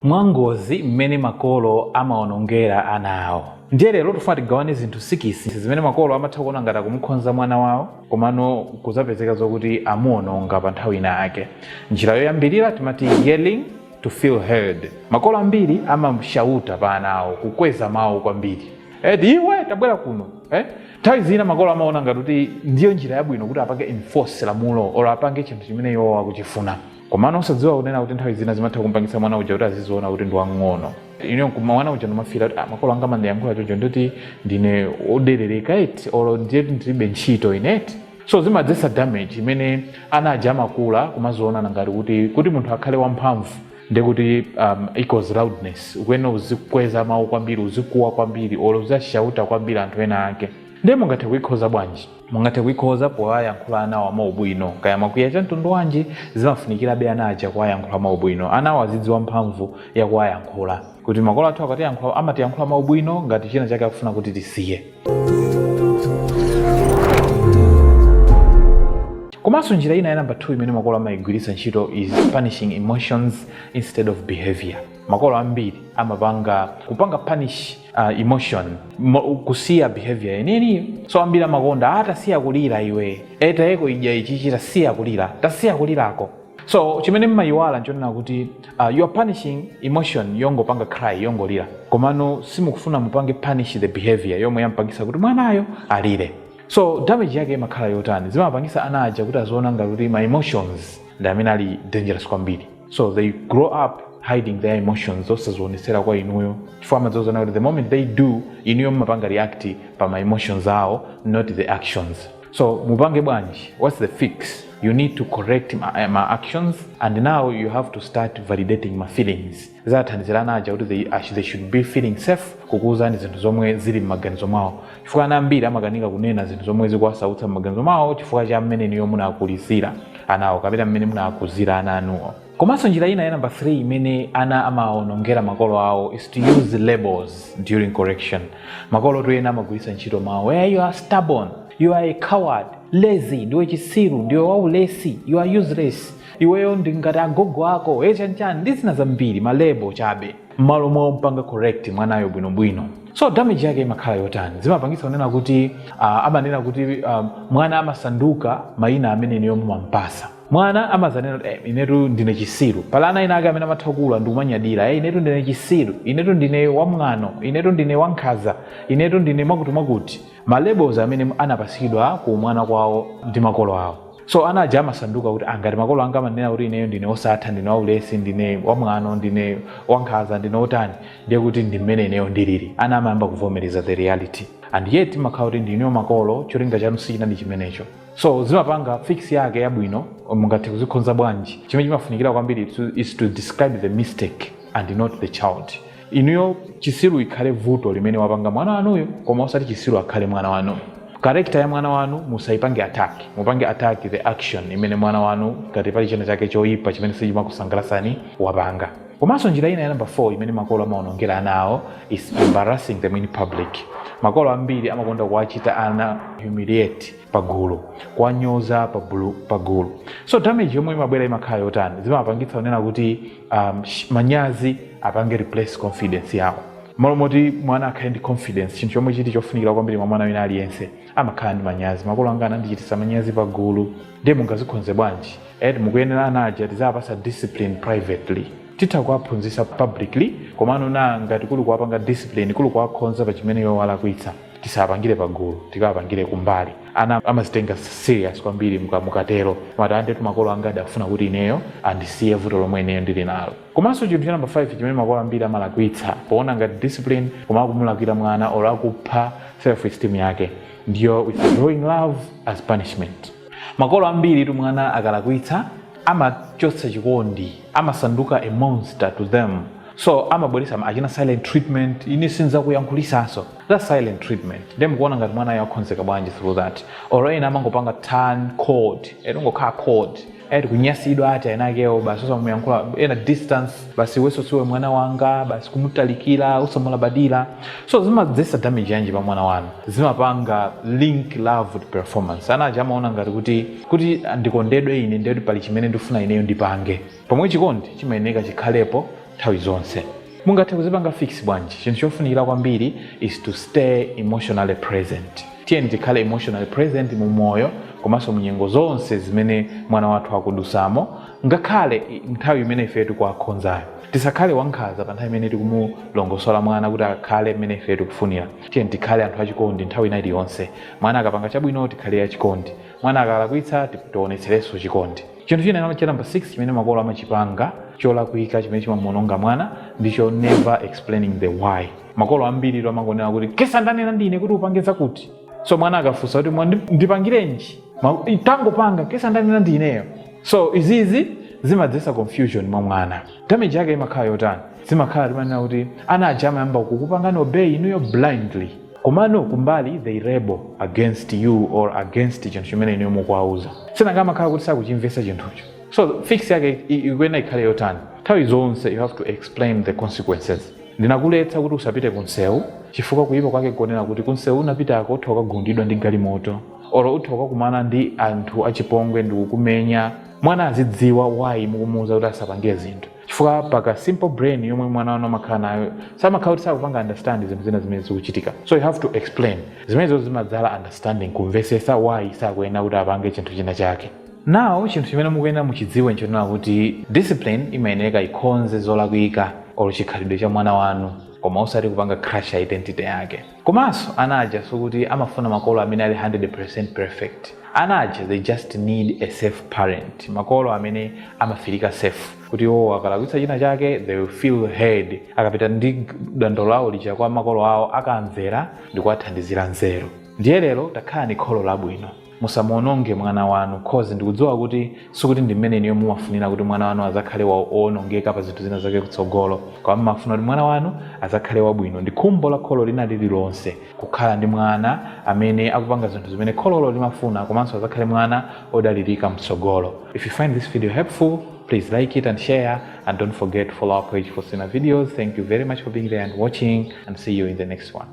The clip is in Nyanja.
mwangozi mmene makolo amawonongera ana awo. Ndiye lero tikufuna tigawane zinthu sikisi zimene makolo amatha kuona ngati akumukhonza mwana wawo komano nkuzapezeka zokuti amuwononga pa nthawi ina yake. Njira yoyambilira timati yelling to feel heard. Makolo ambiri amashauta pa ana awo, kukweza mawu kwambiri. Eti iwe tabwera kuno eh. Nthawi zina makolo amaona ngati kuti ndiyo njira yabwino kuti apange enforce lamulo olo apange chinthu chimene iwowo akuchifuna. komano osadziwa kunena kuti nthawi zina zimatha kumpangitsa mwana uja kuti aziziona kuti ndi wang'ono ine nkuti mwana uja amafila kuti ah, makolo anga amandiyankhula chocho ndi oti ndine oderereka eti olo ndiye kuti ndilibe ntchito ine eti so zimadzetsa damage imene ana aja amakula kumaziona ngati kuti kuti munthu akhale wamphamvu ndi kuti um, equals loudness ukuyenera uzikweza mawu kwambiri uzikuwa kwambiri olo uziwashauta kwambiri anthu ena ake ndiye mungathe kuikhoza bwanji mungathe kuikhoza powayankhula anawa mwaubwino kaya mwakwiya cha mtundu wanji zimafunikirabe ana aja kuwayankhula mwaubwino anawo azidziwa mphamvu ya kuwayankhula kuti makolo athu akatiyankhula amatiyankhula mwaubwino ngati china chake akufuna kuti tisiye komanso njira ina ya namba 2 imene makolo amayigwiritsa ntchito is punishing emotions instead of behavior makolo ambiri amapanga kupanga punish uh, emotion mo, kusiya behavior yeniyeniyo so ambiri amakonda ah tasiya kulira iwe e tayeko uja chichichi tasiya kulira tasiya kulirako so chimene mmayiwala nchonena kuti uh, you are punishing emotion yongopanga cry yongolira komano simukufuna mupange punish the behavior yomwe yampangisa kuti mwanayo alire so damage yake imakhala yotani zimapangisa ana aja kuti aziona ngati kuti ma emotions ndi amene ali dangerous kwambiri so they grow up hiding their emotions osazionetsera kwa inuyo chifukwa amadzaona kuti the moment they do inuyo mumapanga react pa ma emotions awo not the actions so mupange bwanji what's the fix you need to correct ma, ma actions and now you have to start validating ma feelings zizathandizira ana aja kuti they, ash- they should be feeling safe kukuwuzani zinthu zomwe zili m'maganizo mwawo chifukwa ana ambiri amakanika kunena zinthu zomwe zikuwasautsa m'maganizo mwawo chifukwa cha mmene inuyo munawakulitsira anawo kapena mmene munawakuzira ana anuwo komanso njira ina ya namba 3 imene ana amawonongera makolo awo is to use labels during correction makolo tu ena amagwiritsa ntchito mawu hey, you are stubborn you are a coward lazy ndiwe chisiru ndiwe waulesi you are useless iweyo ndi ngati agogo ako eh chani chani ndi zina zambiri malebo chabe mmalo mompanga correct mwanayo bwinobwino so damage yake imakhala yotani zimapangitsa kunena kuti uh, amanena kuti um, mwana amasanduka mayina amene inuyo mumampasa mwana amazanena kuti eh, inetu ndine chisiru pali ana ena ake amene amatha kula ndikumanyadira eh, inetu ndine chisiru inetu ndine wamwano inetu ndine wankhaza inetu ndine mwakuti mwakuti ma labels amene anapasidwa kuumwana kwawo ndi makolo awo so ana aja amasanduka kuti ngati makolo anga amanena kuti ineyo ndine osatha ndine waulesi ndine wamwano ndine wankhaza ndine otani ndiye kuti ndi mmene ineyo ndilili ana amayamba kuvomereza the reality and yet mumakhala kuti inuyo makolo cholinga chanu sichinali chimenecho so zimapanga fix yake yabwino mungathe kuzikhonza bwanji chimene chimafunikira kwambiri is to describe the mistake and not the child inuyo chisiru ikhale vuto limene wapanga mwana wanuyo koma osati chisiru akhale mwana wanu character ya mwana wanu musaipange attack mupange attack the action imene mwana wanu ngati pali china chake choyipa chimene sichimakusangalasani wapanga komanso njira ina ya namba 4 imene makolo amaonongera ana awo is embarrassing them in public makolo ambiri amakonda kuwachita ana humiliate pagulu kuwanyoza pagulu so damage yomwe imabwera imakhala yotani zimapangitsa kunena kuti manyazi apange replace confidence yawo malo moti mwana akhale ndi confidence chinthu chomwe chili chofunikira kwambiri mwa mwana wina aliyense amakhala ndi manyazi makolo anga anandichitisa manyazi pa gulu ndiye mungazikhonze bwanji and mukuyenera ana aja tiziwapasa discipline privately titha kuwaphunzisa publicly komano na ngati kuli kuwapanga discipline kuli kuwakhonza pa chimene iwo walakwitsa tisapangire pagulu tikawapangire kumbali ana amazitenga serious kwambiri mukatero amati indetu makolo anga adafuna kuti ineyo andisiye vuto lomwe ineyo ndili nalo komanso chinthu cha namba 5 chimene makolo ambiri amalakwitsa poona ngati discipline koma akumulakwira mwana or akupha self esteem yake ndiyo withdrawing love as punishment makolo ambiri tu mwana akalakwitsa amachotsa chikondi amasanduka a monster to them so amabweresa achina silent treatment ine sinzakuyankhulisanso that's silent treatment nde mukuona ngati mwanayo akhonzeka bwanji through that or ena amangopanga turn cold ongokhala cold kunyasidwa ati enakewo basi osamuyankhula ena distance basi iweso siwe mwana wanga basi kumutalikira osamulabadira so zimadzesa damage yanji pa mwana wanu zimapanga link love with performance ana aja amaona ngati kuti ndikondedwe ine ndekuti pali chimene ndifuna ineyo ndipange pomwe chikondi chimayeneka chikhalepo nthawi zonse mungathe kuzipanga fix bwanji chinthu chofunikira kwambiri is to stay emotionally present tiyeni tikhale emotionally present mu moyo komanso munyengo zonse zimene mwana wathu akudusamo ngakhale nthawi imene ife tikuwakhonzayo tisakhale ankhaza pa nthawi imene tikumulongosola mwana kuti akhale mmene ife tikufunira tiyeni tikhale anthu achikondi nthawi ina iliyonse mwana akapanga chabwino tikhale achikondi mwana akalakwitsa tionetserenso chikondi Chinthu china cha namba 6 chimene makolo amachipanga cholakwika chimene chimamuononga mwana ndicho never explaining the why. Makolo ambiri amangonena kuti kesa ndanena ndine kuti upange zakuti, so mwana akafunsa kuti ndipangirenji tangopanga kesa ndanena ndineyo so izizi zimadzesa confusion mwa mwana damage yake imakhala yotani zimakhala timanena kuti ana aja amayamba kukupangani obey inuyo blindly Komano kumbali they rebel against you or against chinthu chimene inuyo mukuwauza sinanga amakhala kuti sakuchimvesa chinthucho so fix yake ikuyenera ikhale yotani? Nthawi zonse you have to explain the consequences. Ndinakuletsa kuti usapite ku nsewu chifukwa kuyipa kwake nkonena kuti ku nsewu unapitako utha kukagundidwa ndi galimoto or utha kukakumana ndi anthu achipongwe ndikukumenya. Mwana azidziwa why mukumuuza kuti asapange zinthu. chifukwa paka simple brain yomwe mwana wanu amakhala nayo samakhala kuti sakupanga understand zinthu zina zimene zikuchitika so you have to explain zimenezo zimadzala understanding kumvesesa why sakuyenera kuti apange chinthu china chake now chinthu chimene mukuyenera muchidziwe nchonena kuti discipline imayenereka ikonze zolakwika olo chikhalidwe cha mwana wanu koma osati kupanga crush identity yake Komanso ana aja sikuti amafuna makolo amene ali 100% perfect. Ana aja they just need a safe parent, makolo amene ama-feel-ika safe kuti iwowo akalakwitsa china chake they will feel heard, akapita ndi dandaulo lawo lija kwa makolo awo akawamvera ndikuwathandizira nzeru. Ndiye lero takhalani kholo labwino. musamuononge mwana wanu cause ndikudziwa kuti sikuti ndi mmene inuyo mumafunira kuti mwana wanu azakhale waonongeka pa zinthu zina zake kutsogolo koma mmafuna kuti mwana wanu azakhale wabwino ndi khumbo la kholo lina lililonse kukhala ndi mwana amene akupanga zinthu zimene khololo limafuna komanso azakhale mwana odalirika mtsogolo if you find this video helpful please like it and share and don't forget to follow our page for similar videos thank you very much for being there and watching and see you in the next one